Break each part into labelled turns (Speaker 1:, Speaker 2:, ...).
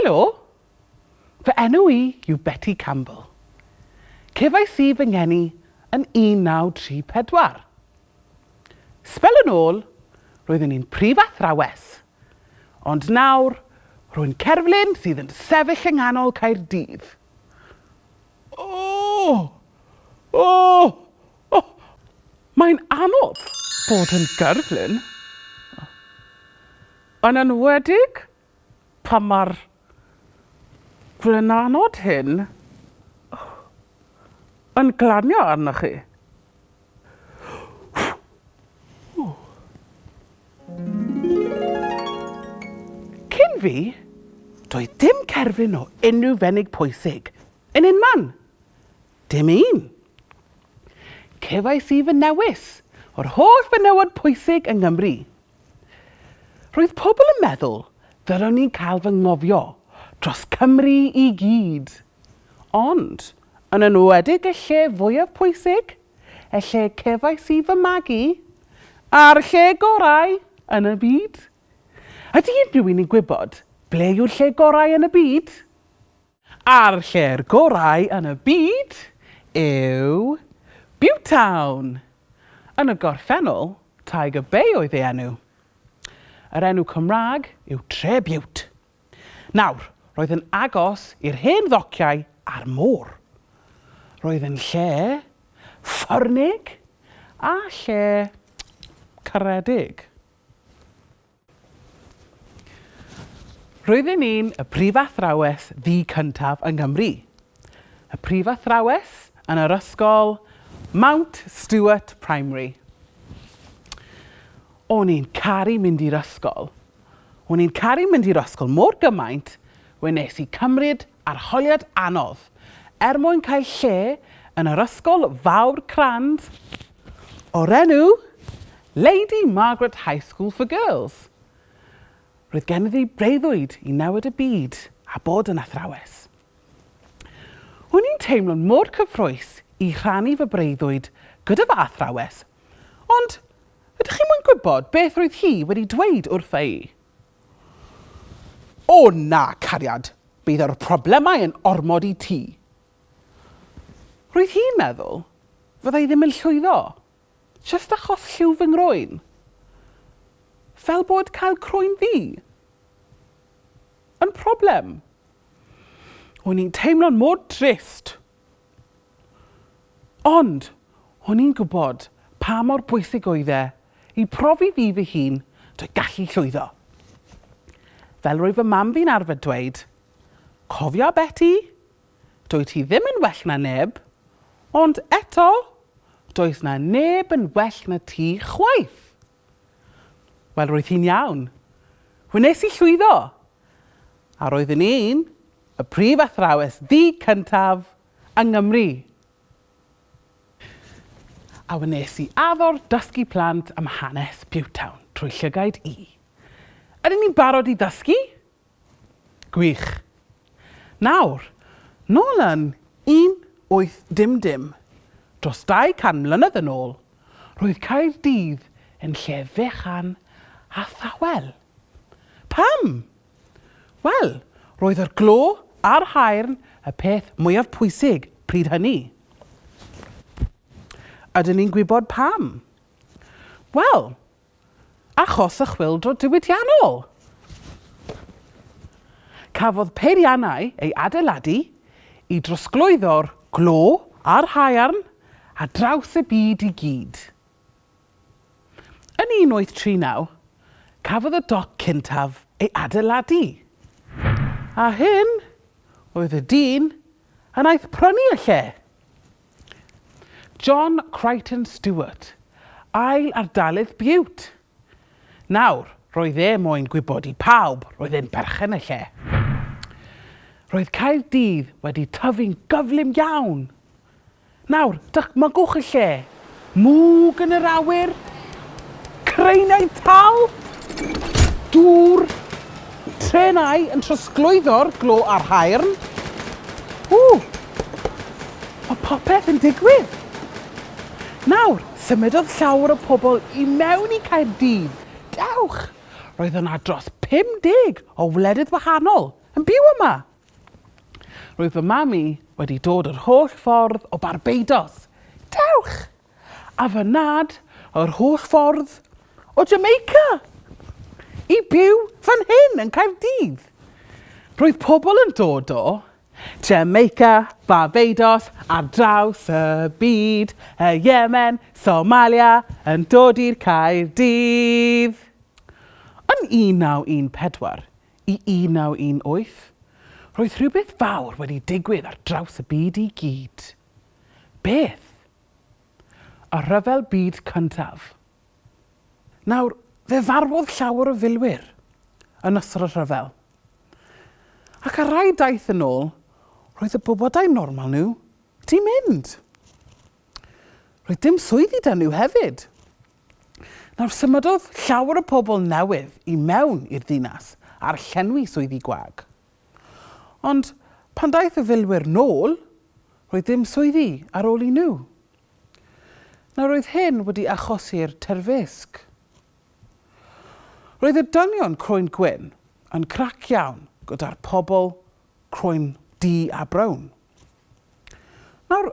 Speaker 1: Helo! Fy enw i yw Betty Campbell. Cefais i fy ngeni yn 1934. Sbel yn ôl, roeddwn i'n prif athrawes, ond nawr, rwy'n cerflun sydd yn sefyll yng nghanol Caerdydd. Ohh! Ohh! Ohh! Mae'n anodd bod yn gerflun. Yn enwedig pan mae'r blinanod hyn yn glanio arnoch chi. Cyn fi, doedd dim cerflun o unrhyw fenig pwysig yn unman. Dim un. Cefais i fy newis o'r holl fenywod pwysig yng Nghymru. Roedd pobl yn meddwl fel o'n i'n cael fy ngofio dros Cymru i gyd. Ond, yn enwedig y lle fwyaf pwysig, y lle cefais i fy magu, a'r lle gorau yn y byd. Ydy unrhyw un yn gwybod ble yw'r lle gorau yn y byd? A'r lle'r gorau yn y byd yw Butetown! Yn y gorffennol, Tiger Bay oedd ei enw. Yr enw Cymraeg yw Tre Bute. Nawr, roedd yn agos i'r hen ddociau a'r môr. Roedd yn lle ffyrnig a lle caredig. Roeddwn i'n y prifathrawes ddu cyntaf yng Nghymru. Y prifathrawes yn yr ysgol Mount Stuart Primary. O'n i'n caru mynd i'r ysgol. O'n i'n caru mynd i'r ysgol mor gymaint we nes i cymryd Arholiad anodd. Er mwyn cael lle yn yr ysgol fawr crand o'r enw Lady Margaret High School for Girls, roedd genddi breuddwyd i newid y byd a bod yn athrawes. O'n i'n teimlo'n mor cyffrous i rhannu fy breuddwyd gyda fy athrawes, ond ydych chi'n moyn gwybod beth roedd hi wedi dweud wrtha i? O na, cariad, bydd yr problemau yn ormod i ti. Roedd hi'n meddwl, fydda i ddim yn llwyddo, jyst achos lliw fy ngroen. Fel bod cael croen ddu yn problem. O'n i'n teimlo'n mor drist. Ond, o'n i'n gwybod pa mor bwysig oedd e i profi fi fy hun drwy gallu llwyddo. Fel roedd fy mam fi'n arfer dweud, Cofia Beti, dwyt ti ddim yn well na neb, ond eto, does na neb yn well na ti chwaith! Wel, roedd hi'n iawn. Wnes i llwyddo! A roeddwn i'n y prif athrawes ddig cyntaf yng Nghymru! A wnes i addo'r dysgu plant am hanes Pewtown trwy llygaid i. Ydyn ni'n barod i ddysgu? Gwych. Nawr, nôl yn 1800, dros 200 mlynedd yn ôl, roedd Caerdydd yn lle fechan a thawel. Pam? Wel, roedd yr glo a'r haearn y peth mwyaf pwysig pryd hynny. Ydyn ni'n gwybod pam? Wel, achos y chwyldro diwydiannol. Cafodd peiriannau ei adeiladu i drosglwyddo'r glo a'r haearn ar draws y byd i gyd. Yn 1839, cafodd y doc cyntaf ei adeiladu, a hyn oedd y dyn a wnaeth prynu y lle. John Crichton Stuart, ail ardalydd Bute! Nawr, roedd e moyn gwybod i pawb roedd e'n berchen y lle. Roedd Caerdydd wedi tyfu'n gyflym iawn! Nawr, dychmygwch y lle Mwg yn yr awyr. Craenau tal. Dŵr. Trenau yn trosglwyddo'r glo a'r haearn. Ww! Mae popeth yn digwydd! Nawr, symudodd llawer o pobl i mewn i Caerdydd. Dewch! Roedd yna dros 50 o wledydd wahanol yn byw yma! Roedd fy mam i wedi dod yr holl ffordd o Barbados, dewch! a fy nhad yr holl ffordd o Jamaica i byw fan hyn yn Caerdydd. Roedd pobl yn dod o Jamaica, Barbados, ar draws y byd, y Yemen, Somalia, yn dod i'r Caerdydd. Yn 1914, I 1918, roedd rhywbeth fawr wedi digwydd ar draws y byd i gyd. Beth? Y Rhyfel Byd Cyntaf. Nawr, fe farwodd llawer o filwyr yn ystod y rhyfel. Ac ar rai daith yn ôl, roedd y bobl dau normal nhw 'di mynd. Roedd dim swyddi 'da nhw hefyd. Nawr, symudodd llawer o pobl newydd i mewn i'r ddinas ar llenwi swyddi gwag. Ond pan ddaeth y filwyr nôl, roedd dim swyddi ar ôl i nhw. Nawr, roedd hyn wedi achosi'r terfysg. Roedd y dynion croen gwyn yn crac iawn gyda'r pobl croen du a brown. Nawr,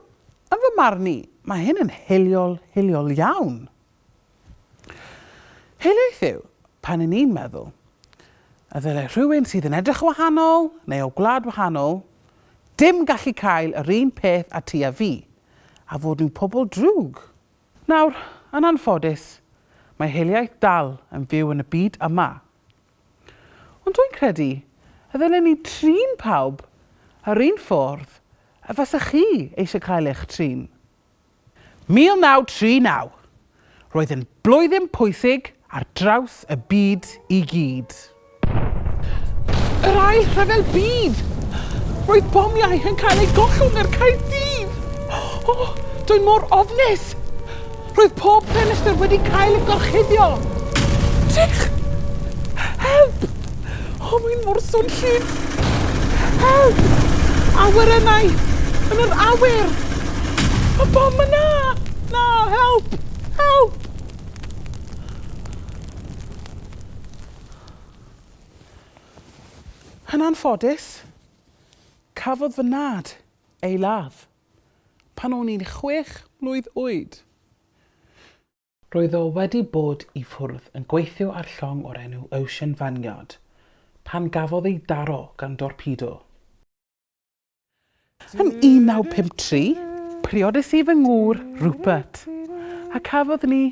Speaker 1: yn fy marn i, mae hyn yn hiliol, hiliol iawn. Hiliaeth yw pan yn ni'n meddwl y ddylai rhywun sydd yn edrych yn wahanol neu o gwlad wahanol dim gallu cael yr un peth a ti a fi, a fod nhw'n pobl drwg. Nawr, yn anffodus, mae hiliaeth dal yn fyw yn y byd yma. Ond dwi'n credu y ddylen ni trin pawb yr un ffordd y fasech chi eisiau cael eich trin. 1939. Roedd yn blwyddyn pwysig ar draws y byd i gyd. Yr Ail Rhyfel Byd! Roedd bomiau yn cael eu gollwng ar Caerdydd! O, dw i mor ofnus! Roedd pob ffenestr wedi cael ei gorchuddio! Chic! Help! O, mae'n mor swnllyd! Help! Awyrennau! Yn yr awyr! Mae bom yna! Na, help! Help! Yn anffodus, cafodd fy nhad ei ladd. Pan o'n i'n chwech mlwydd oed. Roedd o wedi bod i ffwrdd yn gweithio ar llong o'r enw Ocean Vanguard pan gafodd ei daro gan dorpedo. Yn 1953, priodais i fy ngŵr, Rupert, a cafodd ni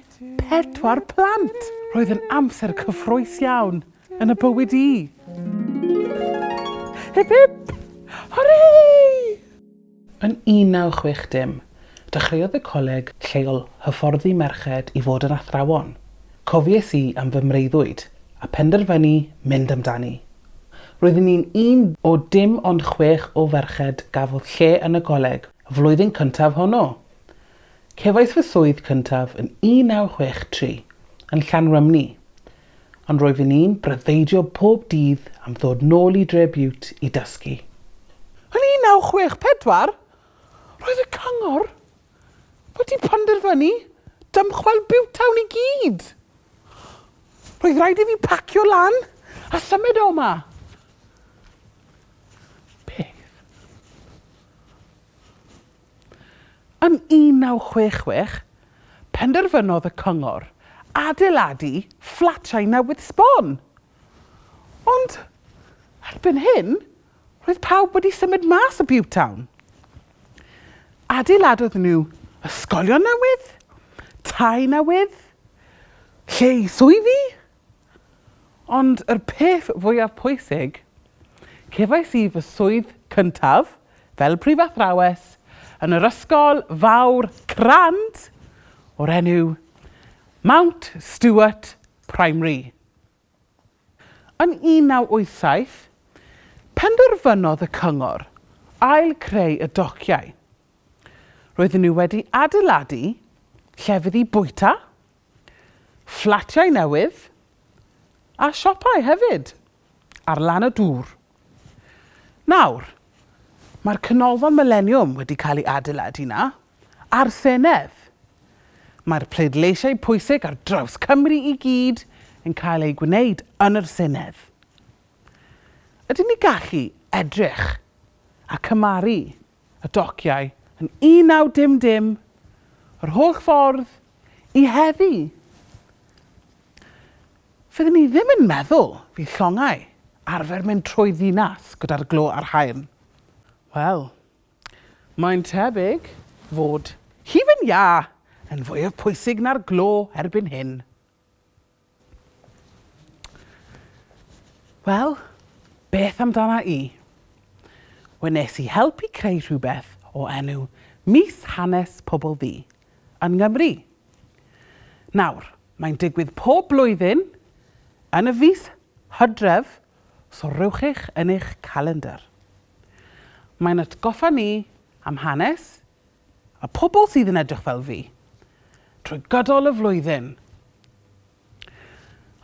Speaker 1: pedwar plant! Roedd yn amser cyffrous iawn yn y bywyd i. Hip hip! Hwrê! Yn 1960, dechreuodd y coleg lleol hyfforddi merched i fod yn athrawon. Cofies i am fy mreuddwyd, a phenderfynu mynd amdani. Roeddwn ni'n un o dim ond chwech o ferched gafodd lle yn y coleg, y flwyddyn cyntaf honno! Cefais fy swydd cyntaf yn 1963, yn Llanrymni. Ond rwyf yn un breuddwydio pob dydd am ddod nôl i Dre Bute i dysgu. Yn 1964, roedd y Cyngor wedi penderfynu dymchwel Butetown i gyd! Roedd rhaid i fi pacio lan a symud o 'ma. Peth. Yn 1966, penderfynodd y cyngor adeiladu fflatiau newydd sbon. Ond erbyn hyn, roedd pawb wedi symud mas o Pewtown. Adeiladodd nhw ysgolion newydd, tai newydd, lle i swyddi, Ond y peth fwyaf pwysig, cefais i fy swydd cyntaf fel prifathrawes yn yr ysgol fawr crand o'r enw Mount Stuart Primary. Yn 1987, penderfynodd y cyngor ail-greu y dociau. Roedden nhw wedi adeiladu llefydd i bwyta, Fflatiau newydd a siopau hefyd ar lan y dŵr. Nawr, mae'r Canolfan Mileniwm wedi cael ei adeiladu 'na, a'r Senedd. Mae'r pleidleisiau pwysig ar draws Cymru i gyd yn cael eu gwneud yn yr Senedd. Ydyn ni gallu edrych a cymaru y dociau yn 1900 yr holl ffordd i heddi! Fyddwn i ddim yn meddwl fydd llongau arfer mynd trwy ddinas gyda'r glo a'r haearn. Wel, mae'n tebyg fod hufen iâ yn fwyaf pwysig na'r glo erbyn hyn. Wel, beth amdana i? Wnes i helpu creu rhywbeth o enw Mis Hanes Pobl Ddu yn Nghymru. Nawr, mae'n digwydd pob blwyddyn yn y fis Hydref, so rhowch eich yn eich calendr. Mae'n atgoffa ni am hanes A pobl sydd yn edrych fel fi. Trwy gydol y flwyddyn.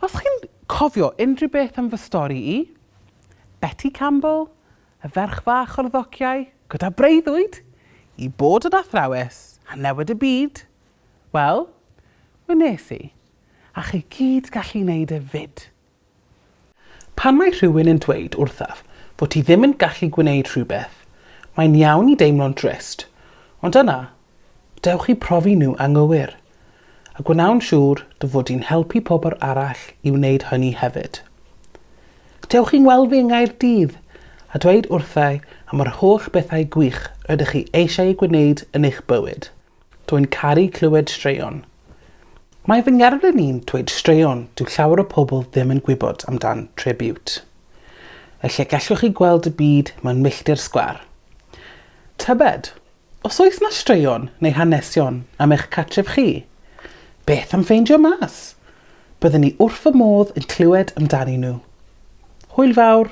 Speaker 1: Os chi'n cofio unrhyw beth am fy stori i, Betty Campbell, y ferch fach o'r ddociau, gyda breuddwyd i bod yn athrawes a newid y byd, wel, wnes i, a chi gyd gallu wneud e 'fyd. Pan mae rhywun yn dweud wrthaf fod ti ddim yn gallu gwneud rhywbeth, mae'n iawn i deimlo'n drist, ond yna, dewch i profi nhw anghywir, a gwnawn siŵr dy fod di'n helpu pobl arall i wneud hynny hefyd. Dewch i'n weld fi yng Nghaerdydd a dweud wrthau am yr holl bethau gwych rydych chi eisiau eu gwneud yn eich bywyd. Dw i'n caru clywed straeon. Mae fy ngerflun i'n dweud straeon dyw llawer o pobl ddim yn gwybod amdan Tre Biwt. Y lle gellwch chi gweld y byd mewn milltir sgwâr. Tybed, os oes 'na straeon neu hanesion am eich cartref chi? Beth am ffeindio mas? Byddwn i wrth fy modd yn clywed amdanyn nhw. Hwyl fawr!